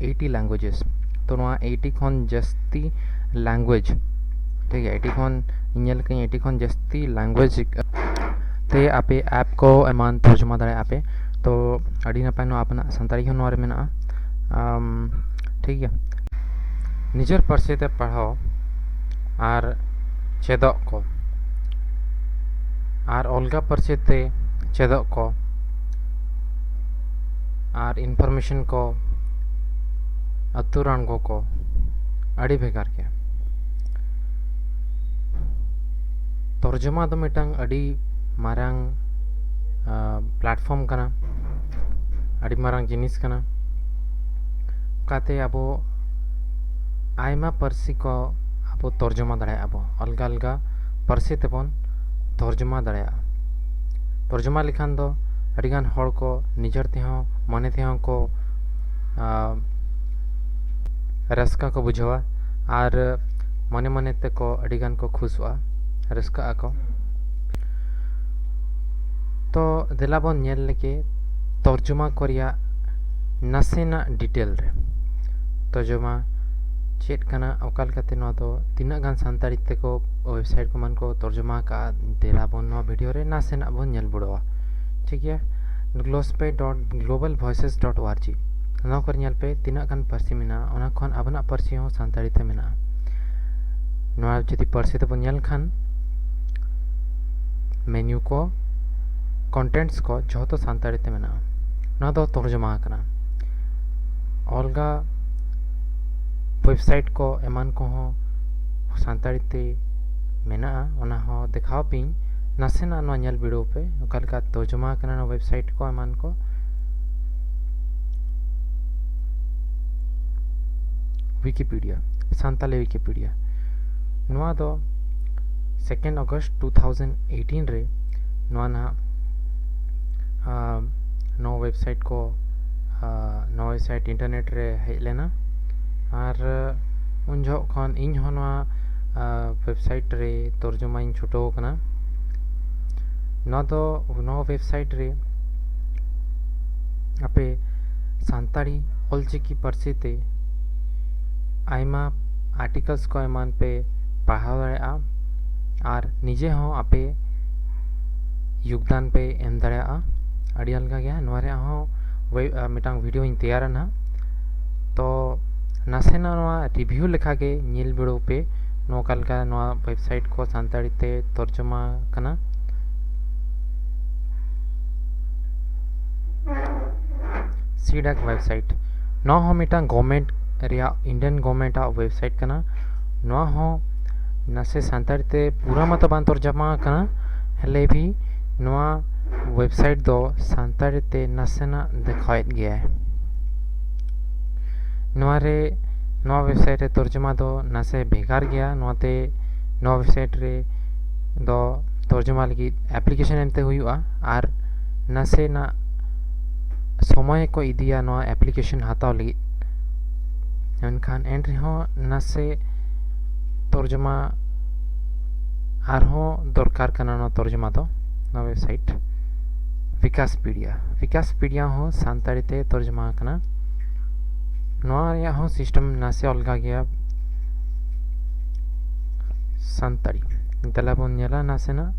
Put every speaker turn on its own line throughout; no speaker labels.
eighty ᱞᱮᱝᱜᱩᱭᱮᱡᱮᱥ ᱛᱚ ᱱᱚᱣᱟ eighty ᱠᱷᱚᱱ ᱡᱟᱹᱥᱛᱤ ᱞᱮᱝᱜᱩᱭᱮᱡᱽ ᱴᱷᱤᱠ ᱜᱮᱭᱟ ᱮᱭᱤᱴᱤ ᱠᱷᱚᱱ ᱧᱮᱞ ᱠᱟᱹᱧ ᱮᱭᱤᱴᱤ ᱠᱷᱚᱱ ᱡᱟᱹᱥᱛᱤ ᱞᱮᱝᱜᱩᱭᱮᱡᱽ ᱛᱮ ᱟᱯᱮ ᱮᱯ ᱠᱚ ᱮᱢᱟᱱ ᱛᱚᱨᱡᱚᱢᱟ ᱫᱟᱲᱮᱭᱟᱜ ᱟᱯᱮ ᱛᱚ ᱟᱹᱰᱤ ᱱᱟᱯᱟᱭ ᱱᱚᱣᱟ ᱟᱯᱮᱱᱟᱜ ᱥᱟᱱᱛᱟᱲᱤ ᱦᱚᱸ ᱱᱚᱣᱟ ᱨᱮ ᱢᱮᱱᱟᱜᱼᱟ ᱴᱷᱤᱠ ᱜᱮᱭᱟ ᱱᱤᱡᱮᱨ ᱯᱟᱹᱨᱥᱤ ᱛᱮ ᱯᱟᱲᱦᱟᱣ ᱟᱨ ᱪᱮᱫᱚᱜ ᱠᱚ ᱟᱨ ᱚᱞᱜᱟ ᱯᱟᱹᱨᱥᱤ ᱛᱮ ᱪᱮᱫᱚᱜ ᱠᱚ ᱟᱨ ᱤᱱᱯᱷᱚᱨᱢᱮᱥᱚᱱ ᱠᱚ ᱟᱹᱛᱩ ᱨᱟᱱᱜᱚ ᱠᱚ ᱟᱹᱰᱤ ᱵᱷᱮᱜᱟᱨ ᱜᱮᱭᱟ ᱛᱚᱨᱡᱚᱢᱟ ᱫᱚ ᱢᱤᱫᱴᱟᱝ ᱟᱹᱰᱤ ᱢᱟᱨᱟᱝ ᱯᱞᱟᱴᱯᱷᱚᱨᱢ ᱠᱟᱱᱟ ᱟᱹᱰᱤ ᱢᱟᱨᱟᱝ ᱡᱤᱱᱤᱥ ᱠᱟᱱᱟ ᱚᱠᱟᱛᱮ ᱟᱵᱚ ᱟᱭᱢᱟ ᱯᱟᱹᱨᱥᱤ ᱠᱚ ᱟᱵᱚ ᱛᱚᱨᱡᱚᱢᱟ ᱫᱟᱲᱮᱭᱟᱜᱼᱟ ᱵᱚ ᱟᱞᱜᱟ ᱟᱞᱜᱟ ᱯᱟᱹᱨᱥᱤ ᱛᱮᱵᱚᱱ ᱛᱚᱨᱡᱚᱢᱟ ᱫᱟᱲᱮᱭᱟᱜᱼᱟ ᱛᱚᱨᱡᱚᱢᱟ ᱞᱮᱠᱷᱟᱱ ᱫᱚ ᱟᱹᱰᱤ ᱜᱟᱱ ᱦᱚᱲ ᱠᱚ ᱱᱤᱡᱮᱨ ᱛᱮᱦᱚᱸ ᱢᱚᱱᱮ ᱛᱮᱦᱚᱸ ᱠᱚ ᱨᱟᱹᱥᱠᱟᱹ ᱠᱚ ᱵᱩᱡᱷᱟᱹᱣᱟ ᱟᱨ ᱢᱚᱱᱮ ᱢᱚᱱᱮ ᱛᱮᱠᱚ ᱟᱹᱰᱤ ᱜᱟᱱ ᱠᱚ ᱠᱷᱩᱥᱚᱜᱼᱟ ᱨᱟᱹᱥᱠᱟᱹᱜ ᱟᱠᱚ ᱛᱚ ᱫᱮᱞᱟ ᱵᱚᱱ ᱧᱮᱞ ᱞᱮᱜᱮ ᱛᱚᱨᱡᱚᱢᱟ ᱠᱚ ᱨᱮᱭᱟᱜ ᱱᱟᱥᱮᱱᱟᱜ ᱰᱤᱴᱮᱞ ᱨᱮ ᱛᱚᱨᱡᱚᱢᱟ ᱪᱮᱫ ᱠᱟᱱᱟ ᱚᱠᱟ ᱞᱮᱠᱟᱛᱮ ᱱᱚᱣᱟ ᱫᱚ ᱛᱤᱱᱟᱹᱜ ᱜᱟᱱ ᱥᱟᱱᱛᱟᱲᱤ ᱛᱮᱠᱚ ᱳᱭᱮᱵᱽᱥᱟᱭᱤᱴ ᱠᱚ ᱮᱢᱟᱱ ᱠᱚ ᱛᱚᱨᱡᱚᱢᱟ ᱟᱠᱟᱫᱼᱟ ᱫᱮᱞᱟᱵᱚᱱ ᱱᱚᱣᱟ ᱵᱷᱤᱰᱤᱭᱳ ᱨᱮ ᱱᱟᱥᱮᱱᱟᱜ ᱵᱚᱱ ᱧᱮᱞ ᱵᱩᱲᱟᱹᱣᱟ ᱴᱷᱤᱠ ᱜᱮᱭᱟ Glosbe dot Global Voices dot org ᱱᱚᱣᱟ ᱠᱚᱨᱮ ᱧᱮᱞ ᱯᱮ ᱛᱤᱱᱟᱹᱜ ᱜᱟᱱ ᱯᱟᱹᱨᱥᱤ ᱢᱮᱱᱟᱜᱼᱟ ᱚᱱᱟ ᱠᱷᱚᱱ ᱟᱵᱚᱱᱟᱜ ᱯᱟᱹᱨᱥᱤ ᱦᱚᱸ ᱥᱟᱱᱛᱟᱲᱤ ᱛᱮ ᱢᱮᱱᱟᱜᱼᱟ ᱱᱚᱣᱟ ᱡᱩᱫᱤ ᱯᱟᱹᱨᱥᱤ ᱛᱮᱵᱚᱱ ᱧᱮᱞ ᱠᱷᱟᱱ ᱢᱮᱱᱤᱭᱩ ᱠᱚ ᱠᱚᱱᱴᱮᱱᱴᱥ ᱠᱚ ᱡᱷᱚᱛᱚ ᱥᱟᱱᱛᱟᱲᱤ ᱛᱮ ᱢᱮᱱᱟᱜᱼᱟ ᱱᱚᱣᱟ ᱫᱚ ᱛᱚᱨᱡᱚᱢᱟ ᱟᱠᱟᱱᱟ ᱚᱞᱜᱟ ᱳᱭᱮᱵᱽᱥᱟᱭᱤᱴ ᱠᱚ ᱮᱢᱟᱱ ᱠᱚᱦᱚᱸ ᱥᱟᱱᱛᱟᱲᱤ ᱛᱮ ᱢᱮᱱᱟᱜᱼᱟ ᱚᱱᱟ ᱦᱚᱸ ᱫᱮᱠᱷᱟᱣ ᱯᱤᱧ ᱱᱟᱥᱮᱱᱟᱜ ᱱᱚᱣᱟ ᱧᱮᱞ ᱵᱤᱰᱟᱹᱣ ᱯᱮ ᱚᱠᱟ ᱞᱮᱠᱟ ᱛᱚᱨᱡᱚᱢᱟ ᱠᱟᱱᱟ ᱱᱚᱣᱟ ᱣᱮᱵᱥᱟᱭᱤᱴ ᱠᱚ ᱮᱢᱟᱱ ᱠᱚ ᱣᱤᱠᱤᱯᱤᱰᱤᱭᱟ ᱥᱟᱱᱛᱟᱞᱤ ᱣᱤᱠᱤᱯᱤᱰᱤᱭᱟ ᱱᱚᱣᱟ ᱫᱚ second August two thousand eighteen ᱨᱮ ᱱᱚᱣᱟ ᱱᱟᱦᱟᱜ ᱱᱚᱣᱟ ᱣᱮᱵᱥᱟᱭᱤᱴ ᱠᱚ ᱱᱚᱣᱟ ᱣᱮᱵᱥᱟᱭᱤᱴ ᱤᱱᱴᱟᱨᱱᱮᱴ ᱨᱮ ᱦᱮᱡ ᱞᱮᱱᱟ ᱟᱨ ᱩᱱ ᱡᱚᱦᱚᱜ ᱠᱷᱚᱱ ᱤᱧ ᱦᱚᱸ ᱱᱚᱣᱟ ᱳᱭᱮᱵᱽᱥᱟᱭᱤᱴ ᱨᱮ ᱛᱚᱨᱡᱚᱢᱟᱧ ᱪᱷᱩᱴᱟᱹᱣ ᱟᱠᱟᱱᱟ ᱱᱚᱣᱟ ᱫᱚ ᱱᱚᱣᱟ ᱳᱭᱮᱵᱽᱥᱟᱭᱤᱴ ᱨᱮ ᱟᱯᱮ ᱥᱟᱱᱛᱟᱲᱤ ᱚᱞᱪᱤᱠᱤ ᱯᱟᱹᱨᱥᱤ ᱛᱮ ᱟᱭᱢᱟ ᱟᱨᱴᱤᱠᱟᱞᱥ ᱠᱚ ᱮᱢᱟᱱ ᱯᱮ ᱯᱟᱲᱦᱟᱣ ᱫᱟᱲᱮᱭᱟᱜᱼᱟ ᱟᱨ ᱱᱤᱡᱮ ᱦᱚᱸ ᱟᱯᱮ ᱭᱳᱜᱽᱫᱟᱱ ᱯᱮ ᱮᱢ ᱫᱟᱲᱮᱭᱟᱜᱼᱟ ᱟᱹᱰᱤ ᱟᱞᱜᱟ ᱜᱮᱭᱟ ᱱᱚᱣᱟ ᱨᱮᱭᱟᱜ ᱦᱚᱸ ᱢᱤᱫᱴᱟᱝ ᱵᱷᱤᱰᱭᱳᱧ ᱛᱮᱭᱟᱨᱟ ᱱᱟᱦᱟᱜ ᱛᱚ ᱱᱟᱥᱮᱱᱟᱜ ᱱᱚᱣᱟ ᱨᱤᱵᱷᱤᱭᱩ ᱞᱮᱠᱟ ᱜᱮ ᱧᱮᱞ ᱵᱤᱲᱟᱹᱣ ᱯᱮ ᱱᱚᱠᱟ ᱞᱮᱠᱟ ᱱᱚᱣᱟ ᱣᱮᱵᱥᱟᱭᱤᱴ ᱠᱚ ᱥᱟᱱᱛᱟᱲᱤ ᱛᱮ ᱛᱚᱨᱡᱚᱢᱟ ᱠᱟᱱᱟ ᱥᱤᱰᱟᱠ ᱣᱮᱵᱥᱟᱭᱤᱴ ᱱᱚᱣᱟ ᱦᱚᱸ ᱢᱤᱫᱴᱟᱝ ᱜᱚᱵᱷᱢᱮᱱᱴ ᱨᱮᱭᱟᱜ ᱤᱱᱰᱤᱭᱟᱱ ᱜᱚᱵᱷᱢᱮᱱᱴ ᱟᱜ ᱣᱮᱵᱥᱟᱭᱤᱴ ᱠᱟᱱᱟ ᱱᱚᱣᱟ ᱦᱚᱸ ᱱᱟᱥᱮ ᱥᱟᱱᱛᱟᱲᱤ ᱛᱮ ᱯᱩᱨᱟᱹ ᱢᱟᱛᱚ ᱵᱟᱝ ᱛᱚᱨᱡᱚᱢᱟ ᱟᱠᱟᱱᱟ ᱦᱮᱞᱮ ᱵᱷᱤ ᱱᱚᱣᱟ ᱣᱮᱵᱥᱟᱭᱤᱴ ᱫᱚ ᱥᱟᱱᱛᱟᱲᱤ ᱛᱮ ᱱᱟᱥᱮᱱᱟᱜ ᱫᱮᱠᱷᱟᱣᱮᱫ ᱜᱮᱭᱟᱭ ᱱᱚᱣᱟ ᱨᱮ ᱱᱚᱣᱟ ᱣᱮᱵᱥᱟᱭᱤᱴ ᱨᱮ ᱛᱚᱨᱡᱚᱢᱟ ᱫᱚ ᱱᱟᱥᱮ ᱵᱷᱮᱜᱟᱨ ᱜᱮᱭᱟ ᱱᱚᱣᱟ ᱛᱮ ᱱᱚᱣᱟ ᱣᱮᱵᱥᱟᱭᱤᱴ ᱨᱮ ᱫᱚ ᱛᱚᱨᱡᱚᱢᱟ ᱞᱟᱹᱜᱤᱫ ᱮᱯᱞᱤᱠᱮᱥᱚᱱ ᱮᱢᱛᱮ ᱦᱩᱭᱩᱜᱼᱟ ᱟᱨ ᱱᱟᱥᱮᱱᱟᱜ ᱥᱚᱢᱚᱭ ᱠᱚ ᱤᱫᱤᱭᱟ ᱱᱚᱣᱟ ᱮᱯᱞᱤᱠᱮᱥᱚᱱ ᱦᱟᱛᱟᱣ ᱞᱟᱹᱜᱤᱫ ᱢᱮᱱᱠᱷᱟᱱ ᱮᱱ ᱨᱮᱦᱚᱸ ᱱᱟᱥᱮ ᱛᱚᱨᱡᱚᱢᱟ ᱟᱨᱦᱚᱸ ᱫᱚᱨᱠᱟᱨ ᱠᱟᱱᱟ ᱱᱚᱣᱟ ᱛᱚᱨᱡᱚᱢᱟ ᱫᱚ ᱱᱚᱣᱟ ᱣᱮᱵᱥᱟᱭᱤᱴ ᱵᱷᱤᱠᱟᱥᱯᱤᱰᱤᱭᱟ ᱵᱷᱤᱠᱟᱥᱯᱤᱰᱤᱭᱟ ᱦᱚᱸ ᱥᱟᱱᱛᱟᱲᱤ ᱛᱮ ᱛᱚᱨᱡᱚᱢᱟ ᱟᱠᱟᱱᱟ ᱱᱚᱣᱟ ᱨᱮᱭᱟᱜ ᱦᱚᱸ ᱥᱤᱥᱴᱮᱢ ᱱᱟᱥᱮ ᱚᱞᱜᱟ ᱜᱮᱭᱟ ᱥᱟᱱᱛᱟᱲᱤ ᱫᱮᱞᱟ ᱵᱚᱱ ᱧᱮᱞᱟ ᱱᱟᱥᱮᱱᱟᱜ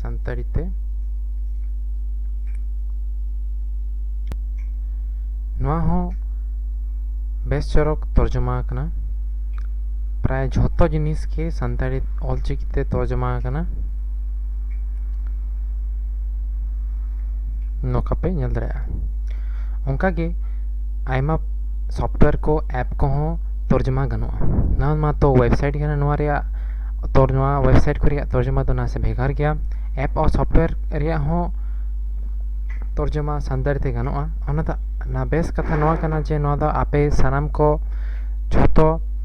ᱥᱟᱱᱛᱟᱲᱤ ᱛᱮ ᱱᱚᱣᱟ ᱦᱚᱸ ᱵᱮᱥ ᱪᱚᱨᱚᱠ ᱛᱚᱨᱡᱚᱢᱟ ᱟᱠᱟᱱᱟ ᱯᱨᱟᱭ ᱡᱷᱚᱛᱚ ᱡᱤᱱᱤᱥ ᱜᱮ ᱥᱟᱱᱛᱟᱲᱤ ᱚᱞᱪᱤᱠᱤ ᱛᱮ ᱛᱚᱨᱡᱚᱢᱟ ᱟᱠᱟᱱᱟ ᱱᱚᱝᱠᱟ ᱯᱮ ᱧᱮᱞ ᱫᱟᱲᱮᱭᱟᱜᱼᱟ ᱚᱱᱠᱟᱜᱮ ᱟᱭᱢᱟ ᱥᱚᱯᱷᱴᱣᱮᱭᱟᱨ ᱠᱚ ᱮᱯ ᱠᱚᱦᱚᱸ ᱛᱚᱨᱡᱚᱢᱟ ᱜᱟᱱᱚᱜᱼᱟ ᱱᱚᱣᱟ ᱢᱟᱛᱚ ᱳᱭᱮᱵᱽᱥᱟᱭᱤᱴ ᱠᱟᱱᱟ ᱱᱚᱣᱟ ᱨᱮᱭᱟᱜ ᱛᱚᱨ ᱱᱚᱣᱟ ᱳᱭᱮᱵᱽᱥᱟᱭᱤᱴ ᱠᱚ ᱨᱮᱭᱟᱜ ᱛᱚᱨᱡᱚᱢᱟ ᱫᱚ ᱱᱟᱥᱮ ᱵᱷᱮᱜᱟᱨ ᱜᱮᱭᱟ ᱮᱯ ᱟᱨ ᱥᱚᱯᱷᱴᱣᱮᱭᱟᱨ ᱨᱮᱭᱟᱜ ᱦᱚᱸ ᱛᱚᱨᱡᱚᱢᱟ ᱥᱟᱱᱛᱟᱲᱤ ᱛᱮ ᱜᱟᱱᱚᱜᱼᱟ ᱚᱱᱟ ᱫᱚ ᱚᱱᱟ ᱵᱮᱥ ᱠᱟᱛᱷᱟ ᱱᱚᱣᱟ ᱠᱟᱱᱟ ᱡᱮ ᱱᱚᱣᱟ ᱫᱚ ᱟᱯᱮ ᱥᱟᱱᱟᱢ ᱠᱚ ᱡᱷᱚᱛᱚ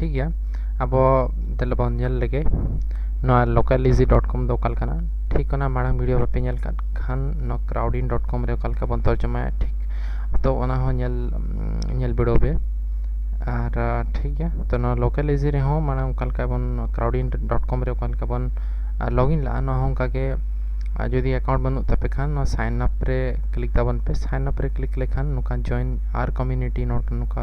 ᱴᱷᱤᱠ ᱜᱮᱭᱟ ᱟᱵᱚ ᱛᱟᱦᱚᱞᱮ ᱵᱚᱱ ᱧᱮᱞ ᱞᱮᱜᱮ ᱱᱚᱣᱟ ᱞᱳᱠᱟᱞ ᱤᱡᱤ ᱰᱚᱴ ᱠᱚᱢ ᱫᱚ ᱚᱠᱟ ᱞᱮᱠᱟᱱᱟ ᱴᱷᱤᱠ ᱚᱱᱟ ᱢᱟᱲᱟᱝ ᱵᱷᱤᱰᱤᱭᱳ ᱵᱟᱯᱮ ᱧᱮᱞ ᱠᱟᱫ ᱠᱷᱟᱱ ᱱᱚᱣᱟ ᱠᱨᱟᱣᱰᱤᱱ ᱰᱚᱴ ᱠᱚᱢ ᱨᱮ ᱚᱠᱟ ᱞᱮᱠᱟ ᱵᱚᱱ ᱛᱚᱨᱡᱚᱢᱟᱭᱟ ᱴᱷᱤᱠ ᱛᱚ ᱚᱱᱟ ᱦᱚᱸ ᱧᱮᱞ ᱧᱮᱞ ᱵᱤᱰᱟᱹᱣ ᱯᱮ ᱟᱨ ᱴᱷᱤᱠ ᱜᱮᱭᱟ ᱛᱚ ᱱᱚᱣᱟ ᱞᱳᱠᱟᱞ ᱤᱡᱤ ᱨᱮᱦᱚᱸ ᱢᱟᱲᱟᱝ ᱚᱠᱟ ᱞᱮᱠᱟ ᱵᱚᱱ ᱠᱨᱟᱣᱰᱤᱱ ᱰᱚᱴ ᱠᱚᱢ ᱨᱮ ᱚᱠᱟ ᱞᱮᱠᱟ ᱵᱚᱱ ᱞᱚᱜᱤᱱ ᱞᱟᱜᱼᱟ ᱱᱚᱣᱟ ᱦᱚᱸ ᱚᱱᱠᱟᱜᱮ ᱡᱩᱫᱤ ᱮᱠᱟᱣᱩᱱᱴ ᱵᱟᱹᱱᱩᱜ ᱛᱟᱯᱮ ᱠᱷᱟᱱ ᱱᱚᱣᱟ ᱥᱟᱭᱤᱱ ᱟᱯ ᱨᱮ ᱠᱞᱤᱠ ᱛᱟᱵᱚᱱ ᱯᱮ ᱥᱟᱭᱤᱱ ᱟᱯ ᱨᱮ ᱠᱞᱤᱠ ᱞᱮᱠᱷᱟᱱ ᱱᱚᱝᱠᱟ ᱡᱚᱭᱮᱱ ᱟᱨ ᱠᱚᱢᱤᱭᱩᱱᱤᱴᱤ ᱱᱚᱝᱠᱟ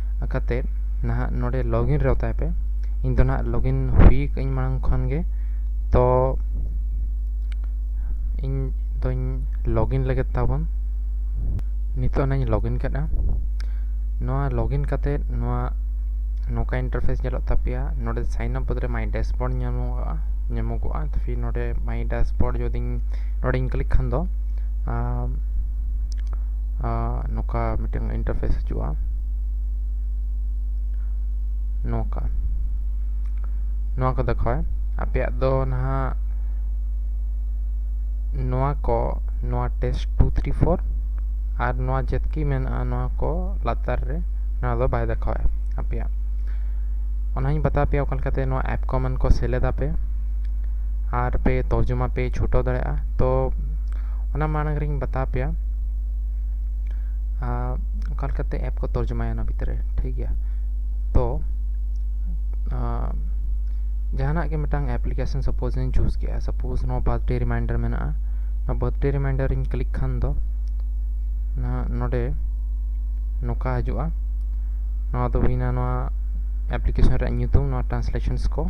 ᱟᱠᱟᱛᱮ ᱱᱟᱦᱟᱜ ᱱᱚᱰᱮ ᱞᱚᱜᱤᱱ ᱨᱮ ᱚᱛᱟᱭ ᱯᱮ ᱤᱧ ᱫᱚ ᱱᱟᱦᱟᱜ ᱞᱚᱜᱤᱱ ᱦᱩᱭ ᱠᱟᱹᱧ ᱢᱟᱲᱟᱝ ᱠᱷᱚᱱ ᱜᱮ ᱛᱚ ᱤᱧ ᱫᱚᱧ ᱞᱚᱜᱤᱱ ᱞᱟᱹᱜᱤᱫ ᱛᱟᱵᱚᱱ ᱱᱤᱛᱚᱜ ᱱᱟᱧ ᱞᱚᱜᱤᱱ ᱠᱮᱫᱟ ᱱᱚᱣᱟ ᱞᱚᱜᱤᱱ ᱠᱟᱛᱮ ᱱᱚᱣᱟ ᱱᱚᱝᱠᱟ ᱤᱱᱴᱟᱨᱯᱷᱮᱥ ᱧᱮᱞᱚᱜ ᱛᱟᱯᱮᱭᱟ ᱱᱚᱰᱮ ᱥᱟᱭᱤᱱ ᱟᱯ ᱵᱚᱫᱚᱞ ᱨᱮ ᱢᱟᱭ ᱰᱮᱥᱵᱳᱨᱰ ᱧᱟᱢᱚᱜᱚᱜᱼᱟ ᱧᱟᱢᱚᱜᱚᱜᱼᱟ ᱯᱷᱤᱨ ᱱᱚᱰᱮ ᱢᱟᱭ ᱰᱮᱥᱵᱳᱨᱰ ᱡᱩᱫᱤᱧ ᱱᱚᱰᱮᱧ ᱠᱞᱤᱠ ᱠᱷᱟᱱ ᱫᱚ ᱱᱚᱝᱠᱟ ᱢᱤᱫᱴᱟᱝ ᱤᱱᱴᱟᱨᱯᱷᱮᱥ ᱦᱤᱡᱩᱜᱼᱟ ᱱᱚᱝᱠᱟ ᱱᱚᱣᱟ ᱠᱚ ᱫᱮᱠᱷᱟᱣᱟᱭ ᱟᱯᱮᱭᱟᱜ ᱫᱚ ᱱᱟᱦᱟᱜ ᱱᱚᱣᱟ ᱠᱚ ᱱᱚᱣᱟ ᱴᱮᱥᱴ ᱴᱩ ᱛᱷᱨᱤ ᱯᱷᱳᱨ ᱟᱨ ᱱᱚᱣᱟ ᱡᱮᱛᱠᱤ ᱢᱮᱱᱟᱜᱼᱟ ᱱᱚᱣᱟ ᱠᱚ ᱞᱟᱛᱟᱨ ᱨᱮ ᱱᱚᱣᱟ ᱫᱚ ᱵᱟᱭ ᱫᱮᱠᱷᱟᱣᱟᱭ ᱟᱯᱮᱭᱟᱜ ᱚᱱᱟᱧ ᱵᱟᱛᱟᱣ ᱯᱮᱭᱟ ᱚᱠᱟ ᱞᱮᱠᱟᱛᱮ ᱱᱚᱣᱟ ᱮᱯ ᱠᱚᱢᱮᱱ ᱠᱚ ᱥᱮᱞᱮᱫᱟᱯᱮ ᱟᱨ ᱯᱮ ᱛᱚᱨᱡᱚᱢᱟ ᱯᱮ ᱪᱷᱩᱴᱟᱹᱣ ᱫᱟᱲᱮᱭᱟᱜᱼᱟ ᱛᱚ ᱚᱱᱟ ᱢᱟᱲᱟᱝ ᱨᱤᱧ ᱵᱟᱛᱟᱣ ᱯᱮᱭᱟ ᱚᱠᱟ ᱞᱮᱠᱟᱛᱮ ᱮᱯ ᱠᱚ ᱛᱚᱨᱡᱚᱢᱟᱭᱟ ᱚᱱᱟ ᱵᱷᱤᱛᱨᱤ ᱨᱮ ᱴᱷᱤᱠ ᱜᱮᱭᱟ ᱛᱚ ᱡᱟᱦᱟᱱᱟᱜ ᱜᱮ ᱢᱤᱫᱴᱟᱝ ᱮᱯᱞᱤᱠᱮᱥᱚᱱ ᱥᱟᱯᱳᱡ ᱤᱧ ᱪᱩᱡᱽ ᱠᱮᱜᱼᱟ ᱥᱟᱯᱳᱡ ᱱᱚᱣᱟ ᱵᱟᱨᱛᱷᱰᱮ ᱨᱤᱢᱟᱭᱤᱱᱰᱟᱨ ᱢᱮᱱᱟᱜᱼᱟ ᱱᱚᱣᱟ ᱵᱟᱨᱛᱷᱰᱮ ᱨᱤᱢᱟᱭᱤᱱᱰᱟᱨ ᱤᱧ ᱠᱞᱤᱠ ᱠᱷᱟᱱ ᱫᱚ ᱱᱚᱰᱮ ᱱᱚᱝᱠᱟ ᱦᱤᱡᱩᱜᱼᱟ ᱱᱚᱣᱟ ᱫᱚ ᱦᱩᱭᱱᱟ ᱱᱚᱣᱟ ᱮᱯᱞᱤᱠᱮᱥᱚᱱ ᱨᱮᱭᱟᱜ ᱧᱩᱛᱩᱢ ᱱᱚᱣᱟ ᱴᱨᱟᱱᱥᱞᱮᱥᱚᱱᱥ ᱠᱚ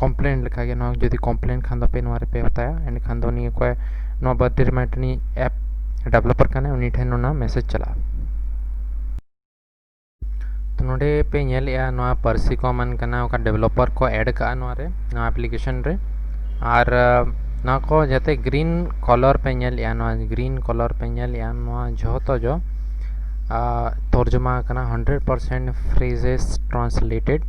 ᱠᱚᱢᱯᱞᱮᱱ ᱞᱮᱠᱟᱜᱮ ᱱᱚᱣᱟ ᱡᱩᱫᱤ ᱠᱚᱢᱯᱞᱮᱱ ᱠᱷᱟᱱ ᱫᱚᱯᱮ ᱱᱚᱣᱟ ᱨᱮᱯᱮ ᱦᱟᱛᱟᱭᱟ ᱮᱸᱰᱮᱠᱷᱟᱱ ᱫᱚ ᱱᱤᱭᱟᱹ ᱠᱚᱭ ᱱᱚᱣᱟ ᱵᱟᱨᱛᱷᱰᱮ ᱨᱤᱢᱟᱭᱤᱱᱰ ᱨᱤᱱᱤᱡ ᱮᱯ ᱰᱮᱵᱷᱞᱚᱯᱟᱨ ᱠᱟᱱᱟᱭ ᱩᱱᱤ ᱴᱷᱮᱱ ᱚᱱᱟ ᱢᱮᱥᱮᱡᱽ ᱪᱟᱞᱟᱜᱼᱟ ᱛᱚ ᱱᱚᱰᱮ ᱯᱮ ᱧᱮᱞᱮᱜᱼᱟ ᱱᱚᱣᱟ ᱯᱟᱹᱨᱥᱤ ᱠᱚ ᱮᱢᱟᱱ ᱠᱟᱱᱟ ᱚᱠᱟ ᱰᱮᱵᱷᱞᱚᱯᱟᱨ ᱠᱚ ᱮᱰ ᱠᱟᱜᱼᱟ ᱱᱚᱣᱟ ᱨᱮ ᱱᱚᱣᱟ ᱮᱯᱞᱤᱠᱮᱥᱚᱱ ᱨᱮ ᱟᱨ ᱱᱚᱣᱟ ᱠᱚ ᱡᱟᱛᱮ ᱜᱨᱤᱱ ᱠᱚᱞᱚᱨ ᱯᱮ ᱧᱮᱞᱮᱜᱼᱟ ᱱᱚᱣᱟ ᱜᱨᱤᱱ ᱠᱚᱞᱚᱨ ᱯᱮ ᱧᱮᱞᱮᱜᱼᱟ ᱱᱚᱣᱟ ᱡᱷᱚᱛᱚ ᱡᱚ ᱛᱚᱨᱡᱚᱢᱟ ᱟᱠᱟᱱᱟ hundred percent phrases translated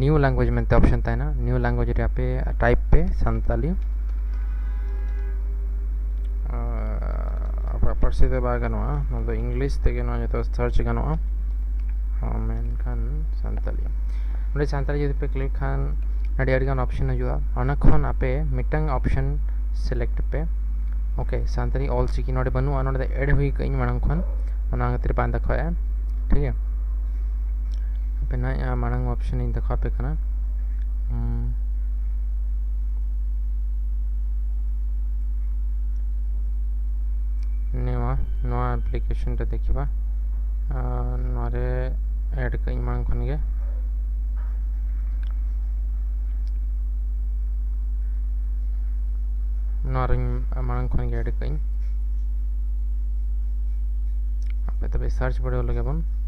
new language ᱢᱮᱱᱛᱮ ᱚᱯᱥᱮᱱ ᱛᱟᱦᱮᱱᱟ ᱱᱤᱭᱩ ᱞᱟᱝᱜᱩᱭᱮᱡᱽ ᱨᱮ ᱟᱯᱮ ᱴᱟᱭᱤᱯ ᱯᱮ ᱥᱟᱱᱛᱟᱞᱤ ᱟᱯᱮᱭᱟᱜ ᱯᱟᱹᱨᱥᱤ ᱫᱚ ᱵᱟᱭ ᱜᱟᱱᱚᱜᱼᱟ ᱱᱚᱣᱟ ᱫᱚ ᱤᱝᱞᱤᱥ ᱛᱮᱜᱮ ᱱᱚᱣᱟ ᱡᱚᱛᱚ ᱥᱟᱨᱪ ᱜᱟᱱᱚᱜᱼᱟ ᱢᱮᱱᱠᱷᱟᱱ ᱥᱟᱱᱛᱟᱞᱤ ᱚᱸᱰᱮ ᱥᱟᱱᱛᱟᱞᱤ ᱡᱩᱫᱤ ᱯᱮ ᱠᱞᱤᱠ ᱠᱷᱟᱱ ᱟᱹᱰᱤ ᱟᱹᱰᱤᱜᱟᱱ ᱚᱯᱥᱮᱱ ᱦᱤᱡᱩᱜᱼᱟ ᱚᱱᱟ ᱠᱷᱚᱱ ᱟᱯᱮ ᱢᱤᱫᱴᱟᱝ ᱚᱯᱥᱮᱱ ᱥᱤᱞᱮᱠᱴ ᱯᱮ ᱳᱠᱮ ᱥᱟᱱᱛᱟᱲᱤ ᱚᱞ ᱪᱤᱠᱤ ᱱᱚᱰᱮ ᱵᱟᱹᱱᱩᱜᱼᱟ ᱱᱚᱰᱮ ᱫᱚ ᱮᱰ ᱦᱩᱭ ᱠᱟᱜ ᱤᱧ ᱢᱟᱲᱟᱝ ᱠᱷᱚᱱ ᱚᱱᱟ ᱠᱷᱟᱹᱛᱤᱨ ᱵᱟᱝ ᱫᱮᱠᱷᱟᱣᱮᱫᱼᱟ ᱴᱷᱤᱠ ᱜᱮᱭᱟ ᱦᱟᱯᱮ ᱱᱟᱭ ᱢᱟᱲᱟᱝ ᱚᱯᱥᱮᱱ ᱤᱧ ᱫᱮᱠᱷᱟᱣ ᱟᱯᱮ ᱠᱟᱱᱟ ᱱᱚᱣᱟ ᱱᱚᱣᱟ ᱟᱯᱞᱤᱠᱮᱥᱚᱱ ᱨᱮ ᱫᱮᱠᱷᱤᱵᱟ ᱱᱚᱣᱟ ᱨᱮ ᱮᱰ ᱠᱟᱜ ᱤᱧ ᱢᱟᱲᱟᱝ ᱠᱷᱚᱱ ᱜᱮ ᱱᱚᱣᱟ ᱨᱮᱧ ᱢᱟᱲᱟᱝ ᱠᱷᱚᱱ ᱜᱮ ᱮᱰ ᱠᱟᱜ ᱤᱧ ᱟᱯᱮ ᱛᱚᱵᱮ ᱥᱟᱨᱪ ᱵᱟᱲᱟᱭ ᱞᱮᱜᱮ ᱵᱚᱱ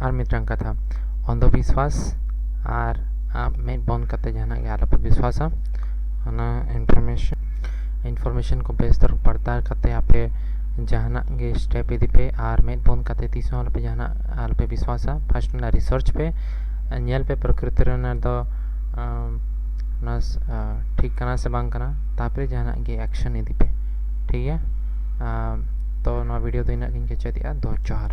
ᱟᱨ ᱢᱤᱫᱴᱟᱝ ᱠᱟᱛᱷᱟ ᱚᱱᱫᱷᱚ ᱵᱤᱥᱣᱟᱥ ᱟᱨ ᱟᱢ ᱢᱮᱫ ᱵᱚᱱ ᱠᱟᱛᱮ ᱡᱟᱦᱟᱱᱟᱜ ᱜᱮ ᱟᱞᱚᱯᱮ ᱵᱤᱥᱣᱟᱥᱟ ᱚᱱᱟ ᱤᱱᱯᱷᱚᱨᱢᱮᱥᱚᱱ ᱤᱱᱯᱷᱚᱨᱢᱮᱥᱚᱱ ᱠᱚ ᱵᱮᱥ ᱫᱚᱨ ᱯᱟᱲᱛᱟᱞ ᱠᱟᱛᱮ ᱟᱯᱮ ᱡᱟᱦᱟᱱᱟᱜ ᱜᱮ ᱥᱴᱮᱯ ᱤᱫᱤ ᱯᱮ ᱟᱨ ᱢᱮᱫ ᱵᱚᱱ ᱠᱟᱛᱮ ᱛᱤᱥ ᱦᱚᱸ ᱟᱞᱚᱯᱮ ᱡᱟᱦᱟᱱᱟᱜ ᱟᱞᱚᱯᱮ ᱵᱤᱥᱣᱟᱥᱟ ᱯᱷᱟᱥᱴ ᱚᱱᱟ ᱨᱤᱥᱟᱨᱪ ᱯᱮ ᱧᱮᱞ ᱯᱮ ᱯᱨᱚᱠᱨᱤᱛᱤ ᱨᱮᱱᱟᱜ ᱫᱚ ᱚᱱᱟ ᱴᱷᱤᱠ ᱠᱟᱱᱟ ᱥᱮ ᱵᱟᱝ ᱠᱟᱱᱟ ᱛᱟᱯᱚᱨᱮ ᱡᱟᱦᱟᱱᱟᱜ ᱜᱮ ᱮᱠᱥᱚᱱ ᱤᱫᱤ ᱯᱮ ᱴᱷᱤᱠ ᱜᱮᱭᱟ ᱛᱚ ᱱᱚᱣᱟ ᱵᱷᱤᱰᱤᱭᱳ ᱫᱚ ᱤᱱᱟᱹᱜ ᱜᱤᱧ ᱠᱮᱪᱮᱫᱮᱜᱼᱟ ᱫᱚ ᱡᱚᱦᱟᱨ